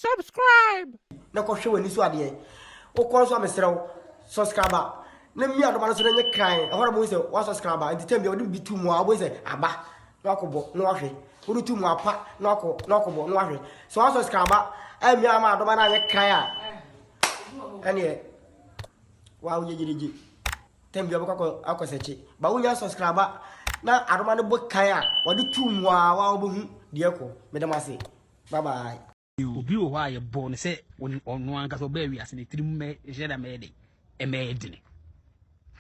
Subscribe. Na kɔ hwɛ w'ani so adeɛ. Wokɔ nso a mesrɛ wo subscribe na mia adoma no so na nyɛ kran. Ɛhɔ na mo sɛ wa subscribe nti tɛm bi a wode bi tu mu a wobɛhu sɛ aba na wakɔ bɔ na wahwɛ. Wode tu mu apa na wakɔ na wakɔ bɔ na wahwɛ. Sɛ wa subscribe a mia ama adoma no anyɛ kran a ɛneɛ wa woyɛ gyerigye. Tɛm bi a wobɛkɔ akɔ sɛkye. Ba wonya subscribe na adoma no bɔ kan a wode tu mu a wa wobɛhu deɛ kɔ. Meda mo ase. Bye bye. Obi wɔ hɔ a yɛbɔɔ no sɛ ɔno ankasa ɔbaa wiase ne tirim mɛ hyɛ da mɛyɛ den ɛmɛyɛ dene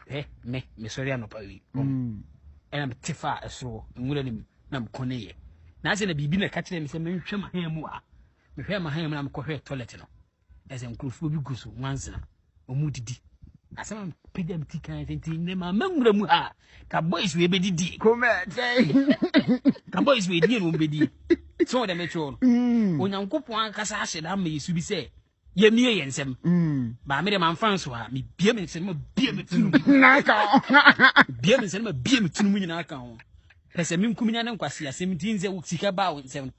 hwɛ me mesɔre anɔpa wi ɛna mete fa ɛsoro nwura no mu na mekɔ ne yɛ na sɛ na biribi na ɛka kyerɛ me sɛ mentwɛ mahan mu a mehwɛ mahan mu na mekɔhwɛ toilet no Ɛsɛ nkurɔfoɔ bi gu so nwansa wɔn didi asɛm a mpagya me ti kan sɛ nti nnɛ maama nwura mu ha ka boys wei bɛdidie ka boys wei die na wɔbɛdie sɛ wɔde mekyerɛw no mm. onyankopɔn ankasa ahyɛ da ama yɛsu bi sɛ yɛmie yɛ nsɛm mm. baa me dɛ mamfa nso ha mebia me nsɛm ma bia me tunu bia me nsɛm ma bia me tunu mu nyinaa ka ho pɛ sɛ menkum nya ne nkwase asɛm nti nsɛ sika baa wo nsɛm no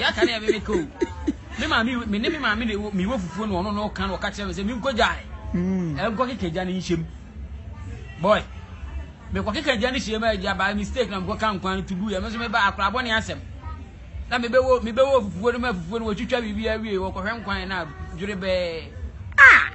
yɛaka no yɛ me meka o me maame me ne me maame de me wɔ fufuo no ɔno no ka no ɔka kyerɛ me sɛ menkɔ gyae hmm. ɛnkɔ keka gya no nhyɛm boy mekɔ keka gya no hyɛm a gya by mistake na mekɔ ka nkwan no to gu yɛ me nso meba akorabɔ ne asɛm na mebɛwɔ mebɛwɔ fufuo no ma fufuo no wɔtwitwa biribi awie wɔkɔhwɛ nkwan no a dwere bɛɛ ah!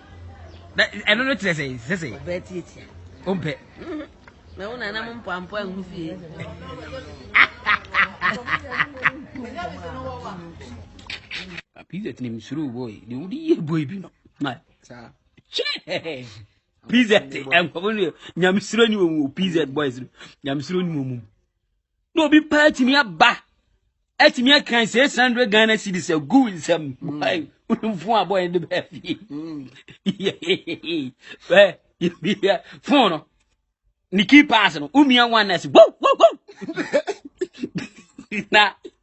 na ɛno no kyerɛ sɛ sɛ sɛ ɔbɛ tiatia ɔmpɛ na wo nana mo mpampo angu fie pizza tinim suru boy de wodi yɛ boy bi no ma kyɛ pizza te nkɔfo no nyamesuro ni wɔn pizza boys no nyamesuro ni wɔn mu na obi paa atumi aba atumi akan six hundred ghana cedis agu nsɛm fon abɔ yɛn de bɛɛ fie fon no ne key pass no wonua one nurse wo wo wo na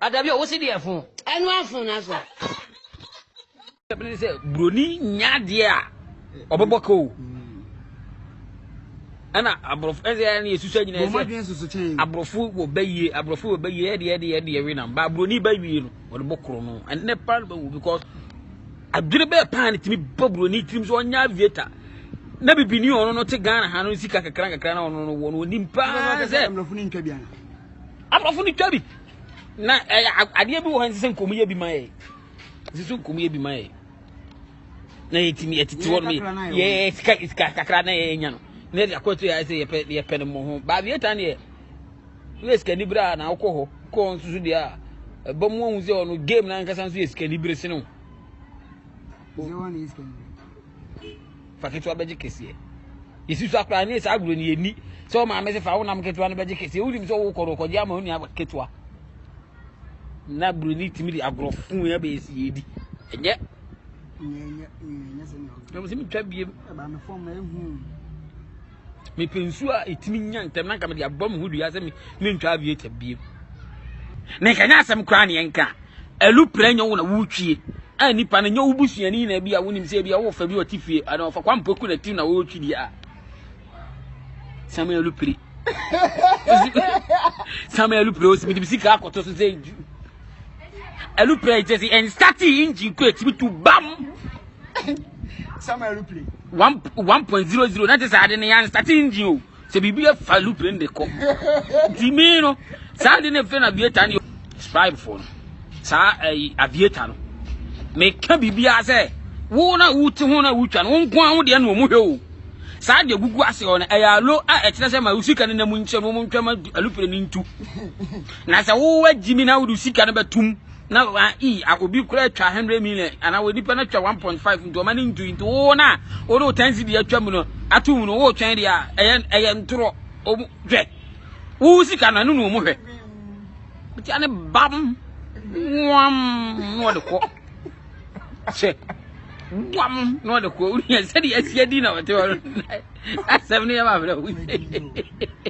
Adabi o, wosi deɛ fon. Ɛnu afon na so. Ɛbi ne sɛ buroni nya adeɛ a ɔbɛbɔ ka o. Ɛna aborɔfo ɛsɛ ɛna yɛsusu agyina ɛsɛ aborɔfo wɔ bɛyie aborɔfo wɔ bɛyie ɛdeɛ ɛdeɛ ɛdeɛ we nam ba buroni bɛwie no ɔde bɔ koro no ɛnɛ paa no bɛwu because adwene bɛɛ paa ne tumi bɔ buroni tirim so ɔnya aviator na bibini ɔno no te Ghana ha no sika kakra kakra na ɔno no wɔ no onim paa sɛ Aborɔfo no twa bi. Na ɛyɛ adeɛ bi wɔ hɔ ɛnsɛ sɛ nkɔmyɛ bi ma yɛ. Ɛsɛ sɛ nkɔmyɛ bi ma yɛ. Na yɛtumi yɛtete hɔ nom yɛ sika sika kakra na yɛnya no. Na yɛde akɔ to yɛ sɛ yɛpɛ yɛpɛ no mo ho. Baabieta neɛ woyɛ sikani bere a na wokɔ hɔ kɔ hɔ nso so deɛ a ɛba mu ahu sɛ ɔno game no ankasa nso yɛ sikani bere sene wo. fa ketewa bɛgye kɛseɛ yɛsi so akora ne saa agorɔ no yɛni sɛ wo maame se fa wo nam ketewa no bɛgye kɛseɛ wonim sɛ wokɔ no kɔgye ama onua ketewa na buroni tumi de agorɔ fuu yɛ bɛyɛ si yɛdi ɛnyɛ ɛnyɛ sɛ ne ɔgorɔ ɛmu sɛ metwa biem ɛba me fam na ɛhu mepɛ nsuo a ɛtumi nya ntɛm na nka mede abɔ me ho dua sɛ mentwa aviator biem na nka nyɛ asɛm koraa neɛ nka ɛluprɛ nyɛ wo na wotwie a nipa no nyɛ wo busuani na bi a wonim sɛ bi a wofa bi ɔte fie anaa ɔfa kwampoku na ti na wɔretwi deɛ a sɛm ɛlupire sɛm ɛlupire ɔsi mede sika akɔtɔ so sɛ Aeroplane kyerɛ sɛ ɛnstate engine kɔ ɛtumi tu bam. Some aeroplane. One one point zero zero na te saa de no yɛ anstate engine o. Sɛ biribi afa aeroplane de kɔ. Nti me no saa de no fɛ na aviator no scribe fo no. Saa ɛyi aviator no. Me ka biribi a sɛ wo na wo ti ho na wo twa no wo nko a wo deɛ na wɔn hwɛ o. Saa deɛ gugu ase hɔ no ɛyɛ alo a ɛkyerɛ sɛ ma wo sika no na mu nkyɛn wɔn ntwa ma aeroplane ntu. Na sɛ wo wagyi mi na wode sika no bɛtum na ah, i ah, obi kura atwa 100 million ana wɔ nipa no atwa 1.5 nti ɔma no ntui nti wo no a wode wo tansi deɛ atwa mu no ato mu no wotwɛn deɛ a ɛyɛ ɛyɛ ntorɔ ɔmu hwɛ wo sika no ɛno na ɔmu hwɛ wotia ne bam wam na ɔde kɔ hyɛ wam na ɔde kɔ wonia sɛdeɛ asia di na ɔte hɔ no asɛm no yɛ ma abrɛ wo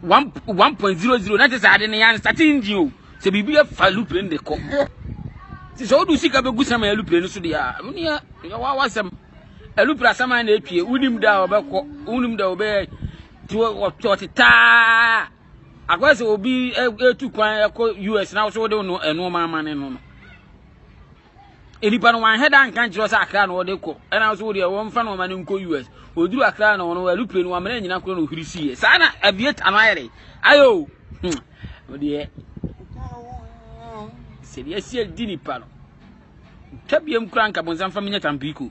one one point zero zero na te sɛ ade no yɛn start engine o sɛ biribi afa aluplane de kɔ te sɛ wodu sika bɛgu sama aluplane no so deɛ a ɛno neɛ yɛ wa wasɛm aluplane asama na atwie wonim da a wɔbɛkɔ wonim da a wɔbɛyɛ te wɔte taa akɔyɛ sɛ obi ɛtu kwan ɛkɔ us na so wode no ɛnoɔma ama ne no no nnipa no wɔanhwɛ da nka nkyerɛ sɛ akra na wɔde kɔ ɛna nso wodeɛ wɔmfa no ɔma no nkɔ us ɔduru akra na wɔn aeroplane no wɔamena nyina korɔ na ɔhwiri siiɛ saa na aviator no ayɛ dɛ ayɛ o wodeɛ sɛ deɛ asi adi nipa no nka biam kora nka bonsam fa menyɛ tampiko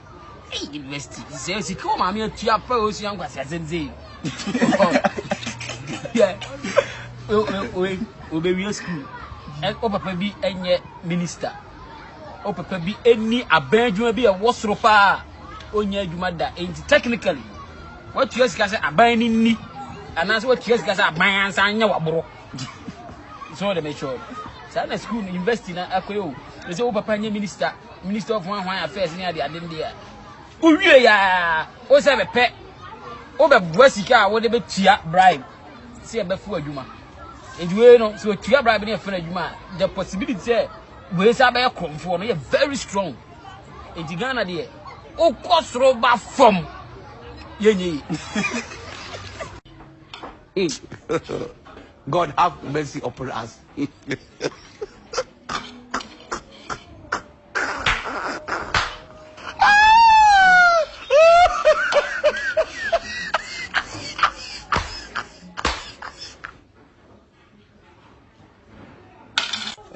Hey, university. Sɛ sika wɔ maame atua pɛ o sua nkwasi asɛm sɛ yi. Obewie sukuu. O papa bi nyɛ minista. O papa bi ni abɛn adwuma bi ɛwɔ soro paa. Onyɛ adwuma da. Enti technically watua sika sɛ aban ni ni anaasɛ watua sika sɛ aban ansa anyɛ waboro. So de make sure. Saa na sukuu university na akɔyɛ o. Sɛ o papa nyɛ minista. minister of hwan hwan affairs ne ade ade no deɛ wowie yɛ a wo sɛ bɛpɛ wobɛboa sika a wode bɛtua bribe sɛ ɛbɛfo adwuma nti wei no sɛ ɔtua bribe ne ɛfɛ no adwuma a the possibility sɛ wei sɛ abɛyɛ korɔmfoɔ no yɛ very strong nti ghana deɛ wokɔ soro ba fam yɛnyɛ yi God have mercy upon us.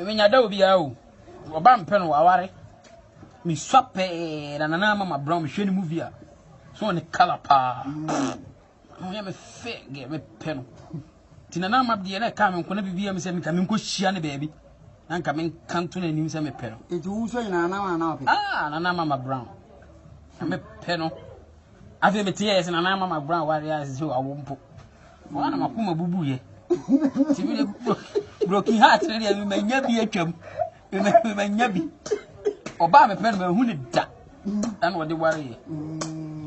menya da obiara o ɔba mpɛ no waware mesua pɛɛ na nana ama mabrɛ mehwɛ ne movie a so ne kala paa ɔyɛ me fɛ gɛ me pɛ no nti na n'ama deɛ na ɛka me nko na biribi a me sɛ meka me nkɔ hyia ne baabi na nka me nka nto no anim sɛ me pɛ no nti wo nso nyinaa na wana ɔpɛ ah na n'ama ma brown na me pɛ no afei me teɛ sɛ na n'ama ma brown wari a sɛ awo mpo wɔn na makoma bubu yɛ ti mi de broken heart ne deɛ manya bi atwam manya bi ɔbaa mepɛ no mahu ne da ɛna ɔde wareɛ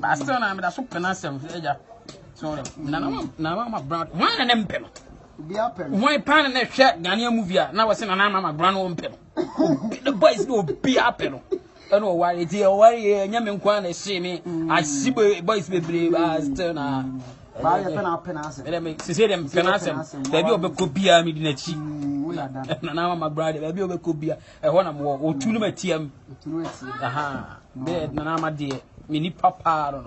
but still na meda so pɛ no asɛm sɛ agya so nanamama brand hwan na ne mpɛ no hwan paa na ɛhwɛ ghanea movie a na wɔse nanamama brand no mpɛ no the boys no obiaa pɛ no ɛna ɔware nti ɔware yɛ ɛnyɛ me nko a na ɛhyee me ahye boys bebree baa still na baayɛ pɛ na apɛ n'asɛm ɛdɛ me sese dɛ mpɛ n'asɛm baabi a ɔbɛkɔ biara mi di n'akyi na na ama magbra de baabi a ɔbɛkɔ biara ɛhɔ na mowɔ ɔtu no matia mu bɛɛ na na ama deɛ me nipa paa no no